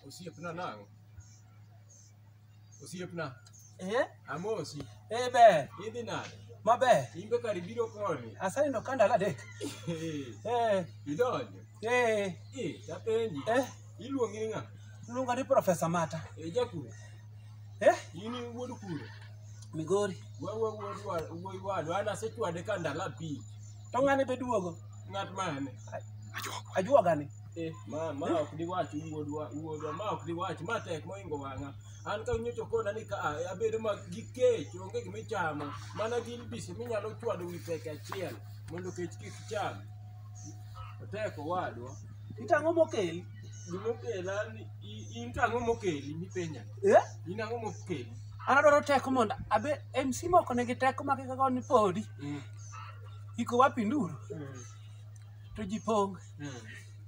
Osiepna nang'o? Osiepna, Eh? amosi. Eh be, Idhi nade? maber. In be kar ibiro koni. Asenindo ka ndalo adek. Eh, Idonjo. eh, Eh, tapenji. eh, Iluongi ni ng'a? luonga ni Profesa Mata. Eh, jakuru. Eh, In in wuod kuro. Migori. Wa wa wuod wa wuod wadu. An asechwade ka ndalo abich. To ng'ane be duogo. Ng'at mane? Ajuoga ni. Eh, ma ma ok diwach wuodwa wuodwa ma ok diwach ma tek moingo wang'a an ka nyocho kona ni ka a- abedo ma gi kech onge gima ichamo mana gin bisi minyalo chwado wi peke achiel mondo kech kik cham otek owadwa Itang'o mokel. gima okela ni i- in to ang'o mokeli mipenja Eh? in ang'o mokeli An adwaro teko mondo abe MC moko nigi teko ma kaka ni podi. Mm. Iko wapi nduru? Mm. to ji pong Mm.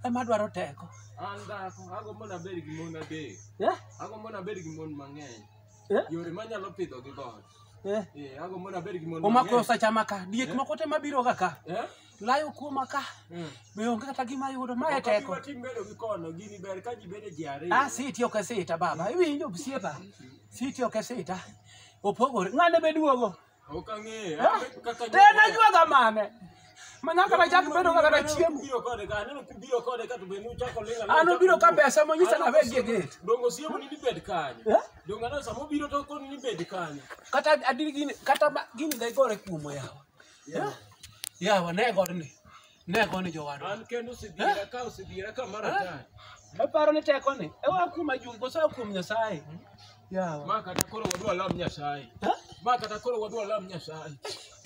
ema dwaro teko An dhako, agombo nabed gi mon adek. Eh? Agombo nabed gi mon mang'eny. Eh? Yore manyalo pidho gi god. Eh, Eh, agombo nabed gi mon omako mang'eny. osachama ka diek Eh? moko te mabiroga ka Eh? layo kuoma ka Mm. be onge kata gima yudo mae Ok abi teko watim bedo gi kono, gini ber ka ji bedo ji ariyo. ah siti ok e sita baba iwinjo siepa siti ok e sita opogore ng'ane be duogo Ok ang'eyo. Ah, An kaka Te na jwaga mane. Mana kata chak bedo kaka na chiemo. Ubiro kode ka, aneno kubiro kode ka to be nuchako ling'a. An obiro ka pesa monyisa na weg gate. Dongo siemo ni nibed kanyo. Eh? Dongo aneno sama obiro to koni nibed kanyo. Kata adiri gini kata ma- gini da igore kuomo yawa. Yawa ne godni. Ne koni jowadwa. An kendo osidhira ka osidhira ka mar atari. Aparo ni teko ni. E wa kuom ajung koso wa kuom Nyasaye. Yawa. Ma kata koro wadwa lam Nyasaye. Ha? Ma kata koro wadwa lam Nyasaye.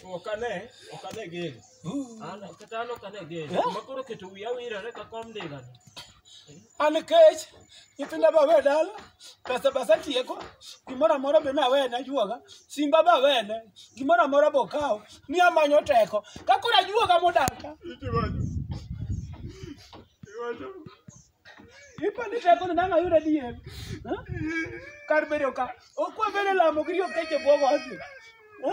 Ok ane, ok ane geno. Uh. An kata an ok ane geno. Eh? Ma koro keto wiya wirore ka kom ndiga. An kech, nyithinda ba we dala, pesa ba satieko, gimoro amora be nawene ajuoga, simba ba wene, gimoro amora bokawo, ni amanyo teko. Ka koro ajuoga modar ka, ipo ni teko ni nang'a yudo adier. Ha? Kar bedo ka, okwa bedo lamo gi riyo keche bwogo ati. Ha?